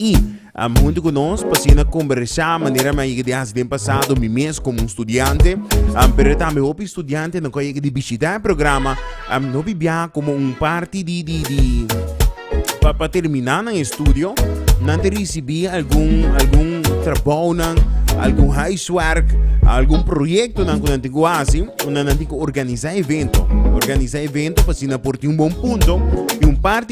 i huntu ku nos pa asina kombersá manera mi a yega di hasi den pasado mi mes komo un studiante pero tambe hopi studiantenan ku a yega di bishitá e programa hopi bia komo un parti di di di pa pa terminá nan estudio nan ta risibí algun algun trabounan algun huiswerk algun proyektonan ku nan tin ku hasi unda nan tin ku organisá evento organisá evento pa asina por tin un bon punto i un parti.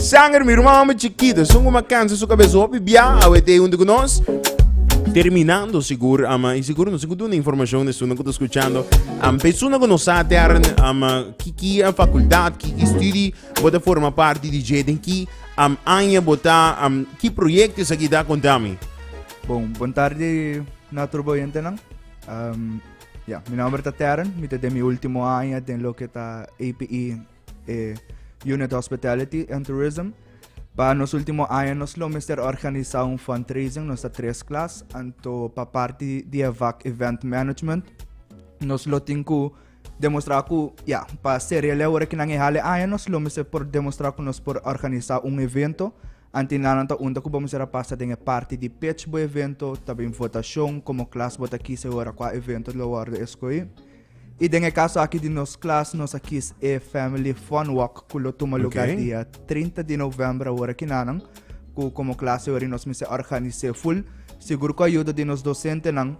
Sanger, mi ruman hombre chiquito, esun cu ma cansa su cabeza hopi bia, awe te junto con nos. Terminando, sigur, ama, y sigur no sigur duna información de suna que está escuchando. Am, pe suna que no sa te arren, ama, kiki a facultad, kiki studi, bota forma parte di J den ki, am, anja bota, am, ki proyecto is aki ta contami. Bon, bon tarde na turbo oyentenan. Um, ya, mi nombre ta Terren, mi te den mi último aña den lo que ta APE eh, Unit Hospitality and Tourism. Pa nos último año nos lo mester organizar un fundraising, nos está tres class, anto pa parte de EVAC Event Management, nos lo tin ku demostrar ku, ja, pa serie le hora kinan e hale año, nos lo mester por demostrar ku nos por organizar un evento, Anti nan nan ta unta ku bo mester a pasa den e parti di pech bo evento, ta bin votashon komo klas bo ta kis e hora kua evento lo wòrdu eskohí. I den e kaso aki di nos klas nos a kis e Family Fun Walk ku lo tuma luga Oké. dia trinta di novèmber awor aki nannan, ku komo klas e hora nos mester organis'é ful. Sigur ku ayuda di nos dosentenan,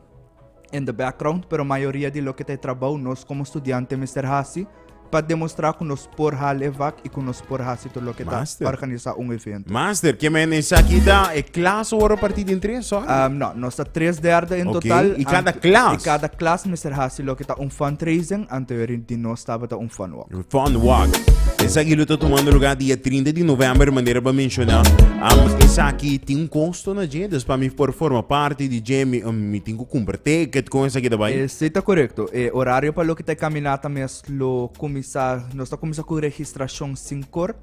in the background pero mayoria di loke ta e trabou nos komo studiante mester hasi pa demostrá ku nos por hala e vak i ku nos por hasi tur loke ta Master. organisá un evento. Master, ke men esaki ta e klas wòrdu partí den tres sòl? Um, no, nos ta tres derde in Oké, total. i kada ante- klas? I kada klas mester hasi loke ta un fundraising anterior di nos tabata un fun Fun Walk. Esaki lo ta tumando lugar dia 30 di november, manera pa menciona. Um, esaki tin un costo na dje, dus pa mi por forma parti di dje, mi, um, mi tin cu cumpra ticket con esaki ta bai. E si ta correcto. E horario pa loke ta e caminata mes lo cuminsa, nos ta cuminsa cu registracion sincor.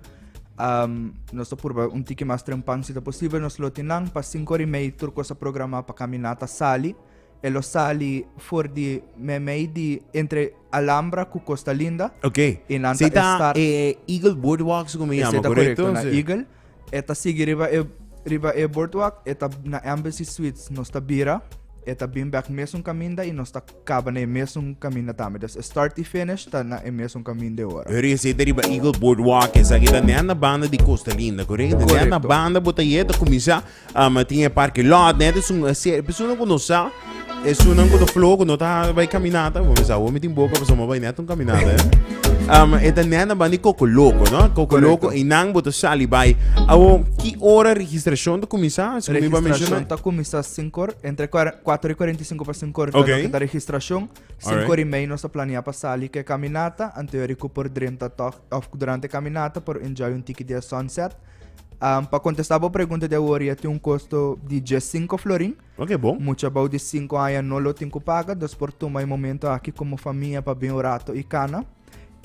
Um, nos ta purba un tiki mas trempan si ta posibel. Nos lo tin nan pa sincor y mei tur cosa programa pa caminata sali. E lo sali for di me mei di entre. Alhambra cu Costa Linda. Ok. Y nan ta estar. Sey ta e Eagle Boardwalk su cu mi yama, corecto? Esey ta corecto, na Eagle. E ta sigui riba e, riba e boardwalk, e ta na Embassy Suites. Nos ta bira, e ta bin bek mesun caminda y nos ta caba na e mesun caminda tambe. Dus e start y finish ta na e mesun caminda e ora. Pero esey ta riba Eagle Boardwalk, esaki ta nen na banda di Costa Linda, corecto? Nen na Corecto. banda bo ta yega, ta cuminsa Um, tin e parque lot, net is un serie persona ku no sa, es un ku no flow, ku no ta bai caminata, bo misa, bo mi tin boka, paso mo bai net un caminata, eh. Um, eta nena bani coco loco, no? Coco Correcto. loco, e nan boto sali bai. Awo, ki ora registracion ta kumisa? Is kumi ba Registracion menciona? ta kumisa 5 hor, entre kuar- 4 y 45 pa 5 hor, Ok. okay. ta registracion. 5 Alright. hor y mei nos ta planea pa sali ke caminata, anterior ku por drenta toch, of durante caminata por enjoy un tiki dia sunset. Um, pa contestar bo pregunta de hoor, ya un costo di 15 florin. Ok, bom. Mucha bouw di 5 aña no lo tin paga, dus por toma e momento aki como familia pa ben orato y cana.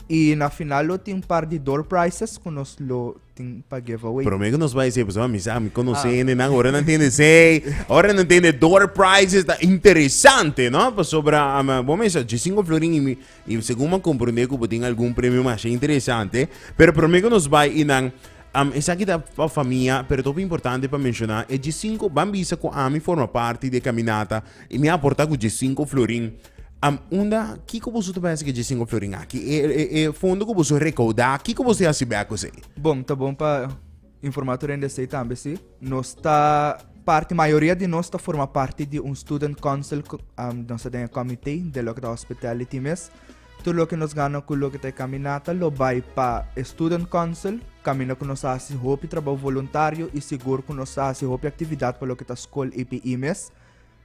Y na final lo tin par di door prices que nos lo tin pa giveaway. Pero me que nos vai ser, pues, mi sa, mi conoce, ah. nan, ahora no entiende, sei, ahora no entiende door prices, está interesante, ¿no? Pues, sobra, um, bom, eso, 15 florin y mi, I segun m'a komprondé ku bo tin algun premio masha interesante, pero promé ku nos bai i nan Am, esaki ta pa famia, pero ta hopi importante pa menshoná e dje sinku, ban bisa ku ami forma parti di e kaminata i mi a aportá ku dje sinku florin. Am, unda, kiko boso ta bai hasi ku e dje sinku florin aki? E, e, e fondo ku boso a rekaudá, kiko boso a hasi bèk ku esei? Bon, ta bon pa. Informator rende esei tambe si. Nos ta parti, mayoria di nos ta forma parti di un student council, um, nos ta den comité de lo que ta hospitality mes. Todo lo que nos gana con lo que ta caminata lo bai pa student council, camina con nos hace hopi trabajo voluntario y seguro con nos hace hopi actividad pa lo que ta school IPI mes.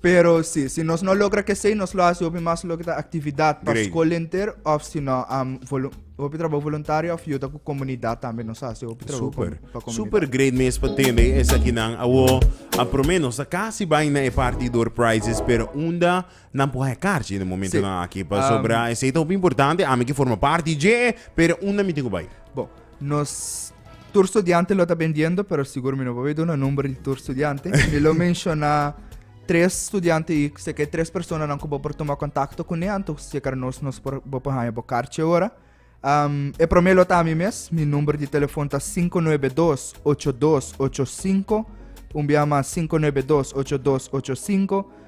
Pero si, si nos no logra kesey, nos lo hasi hopi mas loke ta aktividat pa Great. skol henter of si no am volu- hopi trabou voluntario of yuda ku komunidat tambe nos hasi hopi trabou pa- Super, pa komunidat. super great mes pa tende esakinan awo. A prome nos a casi bai na e party door prizes, pero unda nan por haya karchi na momento Sí. nan aki. Pasobra Um, esei ta hopi importante, ami ki forma party dje, pero unda mi tin ku bai? Bon, Nos tur studiante lo ta bendiendo, pero sigur mi no por duna number di tur studiante. Mi lo menciona tres studiante y se que tres personas nan cubo por tomar contacto con él, anto se que nos nos por bo por haña bo carche ahora. Um, e primer lo ta mi mes, mi number di telefoon ta 592-8285, un biama 592-8285,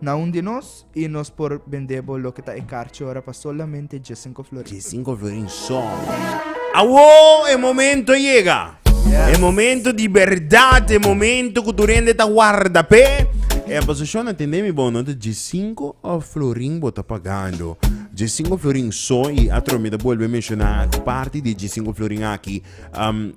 Na un di nos y nos por bende bo loke ta e karchi ora pa solamente dje sinko florin. Dje sinko florin so. Awo e momento a yega. E momento di berdad, e momento ku tur hende ta warda p'e. E aposashon a tende mi bono ta dje sinko florin bo ta pagando. Dje sinko florin so i atro mi ta bolbe menshona aki parti di e dje sinko florin aki.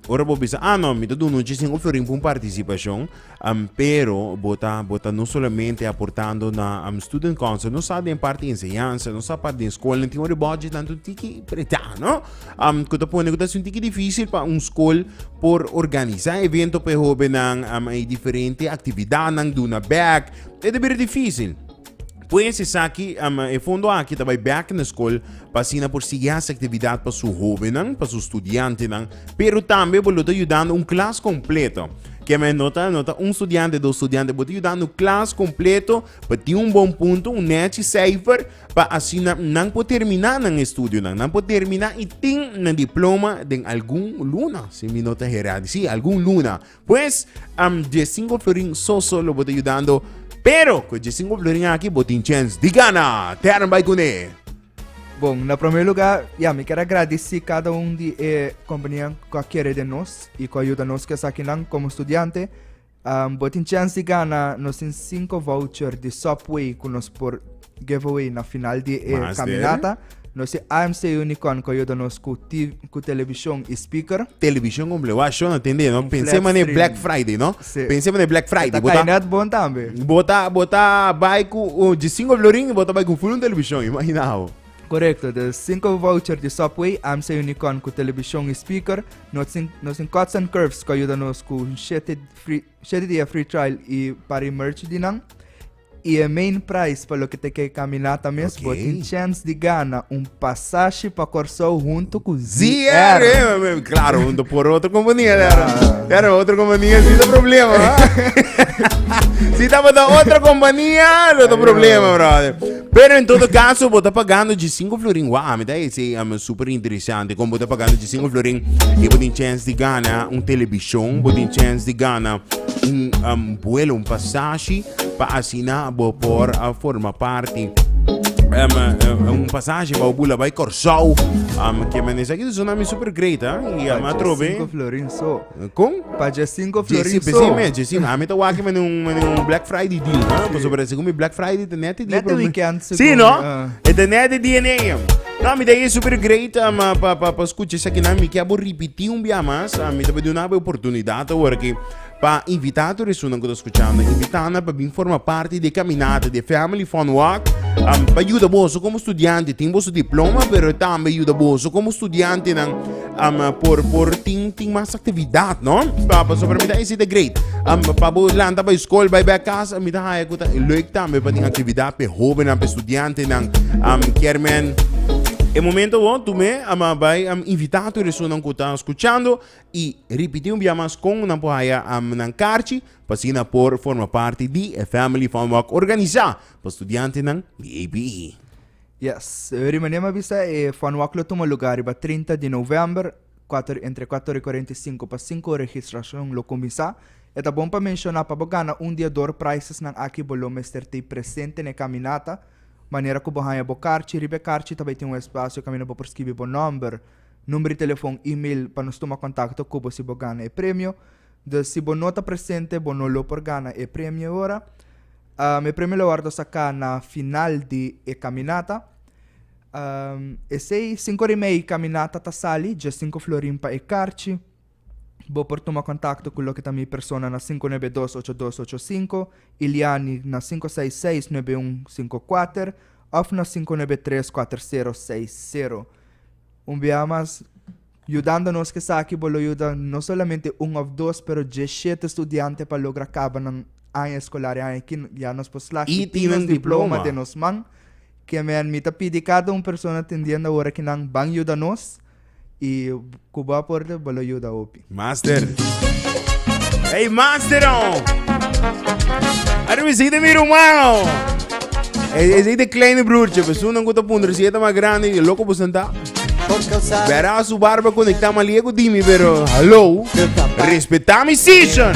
Ora bo bisa, ah no, mi ta duna un dje sinko florin pa un partisipashon. Ampero bo ta bo ta no solamente aportando na Student Council, no sa den parti enseñansa, no sa parti den skol, nan tin ora e budget nan ta un tiki pretá, no? Am ku ta pone ku ta un tiki difícil pa un skol por organisá evento pa e hóbennan, am e diferente aktividatnan, duna bèk, e ta bira difícil. Pues esaki, um, e fondo aki ta bai bek na skol pa asina por sigui hasi aktividat pa su hobennan, pa su studiantenan, pero tambe bo lo ta yudando un klas kompleto. Ke men no ta, no ta un studiante, dos studiante, bo ta yudando klas kompleto pa tin un bon punto, un nechi seifer, pa asina nan por termina nan estudionan, nan por termina i tin nan diploma den algun luna, si mi no ta herá, si algun luna, Pues, am dje singo florin so so lo bo ta yudando, pero ku e dje singo florin aki bo tin chens di gana tèrn bai kuné. Bon, na promé lugá, ya, mi ker agradisí kada un di e kompanianan ku a kere den nos i ku a yuda nos ku esakinan. Komo studiante, bo tin chens di gana nos tin sinko voucher di Subway ku nos por. giveaway na final di e Mas kaminata. Dere. Nos e AMC Unicorn ku a yuda nos ku, TV, ku televishon i speaker. Televishon komple. Wak shon a tende, no? Un Pensé flat mané screen. Black Friday, no? Sí. Pensé mané Black E Friday. ta Bo kai ta, nèt bon tambe. bo ta, bo ta bai ku un dje sinko florin i bo ta bai ku un fulun televishon. Imagina bo. Korekto. De sinku voucher di Subway, AMC Unicorn ku televishon i speaker, nos tin, nos tin Cuts and Curves ku a yuda nos ku un shete free, shete dia free trial i pari merch di nan. I e main prize pa loke ta ke kaminata mes, bo Okay. tin chance di gana un pasashi pa Kòrsou huntu ku ZR. ZR. Claro, junto por otra compañía. Claro. Claro. Claro, otra compañía sí da problema. ¿ah? si está para otra compañía, no da problema, brother. Pero en todo caso, vos está pagando de 5 florín. Wow, me está diciendo, es súper interesante. Como vos está pagando de 5 florín, y vos tiene chance de ganar un televisión, vos tiene chance de ganar un um, vuelo, un pasaje. pa asina bo por a forma parti un pasashi pa bo bula bai Kòrsou ke men esaki ta sona mi super great a i a atrobe kon? Djesi besei mes djesi mes ami ta wak mende un black friday deal pasobra segun mi black friday ta net e dia por mi si no e ta net e dia nei no mi ta e super great pa skucha esakinan mi ke abo ripiti un bia mas mi ta bai duna bo e oportunidat awor aki. Pa invitá tur esunnan ku ta skuchando, invitana pa bin forma parti di e kaminata di e Family Fun Walk. Am pa yuda boso komo studiante tin boso diploma, pero tambe yuda boso komo studiantenan am por por tin tin mas aktividat, no? Pa pasobra mi ta hesita great. Am pa bo lanta bai skol, bai bèk kas, mi ta haña ku ta lèk tambe pa tin aktividat pa e hóbennan, pa e studiantenan. Am kier men e momento awor, tu me am a bai am invitá tur esunnan ku ta skuchando i ripití un bia mas kon nan por haya amnan karchi pa asina por forma parti di e Family Fun Walk organisá pa studiantenan di APE. Yes, Ri Maniema a bisa e Fun Walk lo tuma lugá riba trinta di novèmber, kuater entre kuater i kuarenta i sinku pa sinku registrashon lo kuminsá. E ta bon pa menshoná pa bo gana un di e door prizesnan aki bo lo mester t'ei presente n'e kaminata, manera ku bo haña bo karchi, riba e karchi ta bai tin un espasio kaminda bo por skibi bo nòmber, Number di telefon, email pa nos tuma kontakto ku bo si bo gana e premio. Dus si bo no ta presente bo no lo por gana e premio e ora. E premio lo wòrdu saká na final di e kaminata. Esei, sinku ora i mei kaminata ta sali, dje sinku florin pa e karchi. Bo por tuma kontakto ku loke ta mi persona na sinku nebe dos ocho dos ocho sinku, Iliani na sinku seis seis nebe un sinku kuater òf na sinku nebe tres kuater sero seis sero. Un biaha mas yudando nos ku esaki bo lo yuda no solamente un òf dos pero djeshete studiante pa logra kaba nan aña eskolar e aña aki ya nos por slaag i tin nos diploma den nos man. Ke men mi ta pidi kada un persona tendiendo awor aki nan ban yuda nos. y cu bo aporte bo lo yuda hopi. Master. Hey, master, oh. Are we see the middle mano. Hey, is de kleine broertje. We zoenen goed op onder. Zie maar grande. Je loco besenta. Verá su barba conectada maar liego dimi, pero hallo. Respeta mi season.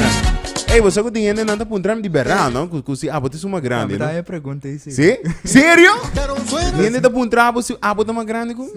Hey, we zoeken die ene nanta puntra di berra, no? Kusi abo te suma grande. Ja, no? pregunta isi. Sí? Serio? Niente te puntra abo si abo te ma grande ku?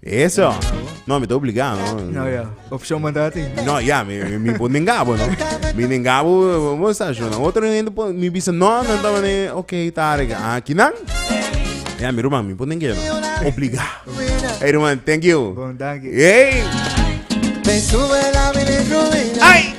Eso. No, mi ta obligá, no. No, ya. Opción man ta tin. No, ya, mi, mi, mi pon den gabo, no. Mi den gabo, mo sa jo, no. Otro nene pon, mi bisa, no, no, no, no, ok, tare, ah, kinan? Ya, mi ruman, mi pon den gabo. Obligá. Hey, ruman, thank you. Bon, dank je. Hey! Ay!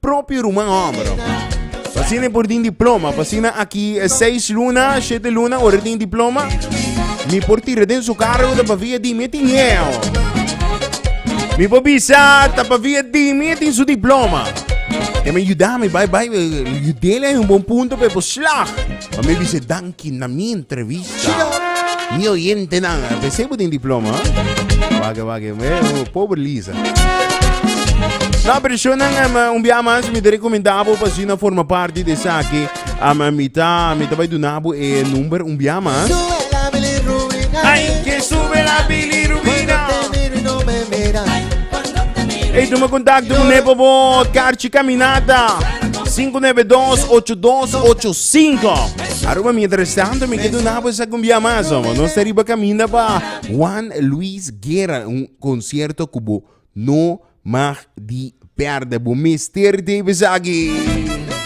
propio ruman homber. Así por din diploma, así aquí eh, seis luna, siete luna, ora din diploma. Mi por tirar den su carro, de pavia di mi tineo. Mi por bisa, de pavia di mi tin su diploma. E me ayuda, mi bye bye, ayudele eh, un buen punto, pero slag. Pa mi bis'e danki na mi entrevista. Mi oyentenan, a pes'e bo tin diploma. Wage, wage, me, oh, pobre Lisa. Na personan, um, un bia mas mi te recomenda bo pa si na forma parte de saki. Um, mi ta, mi ta bai duna bo e number un bia mas. Sube la bilirrubina. Ay, que sube la bilirrubina. Cuando te miro y no me miras. Ei, tu me contacto con me por favor. Carchi Caminata 592-8285. Aruba mientras tanto, me quedo na pues a cumbia más. No se riba camina pa Juan Luis Guerra, un concierto cubo no mag di perde. Bo mister Davis aquí.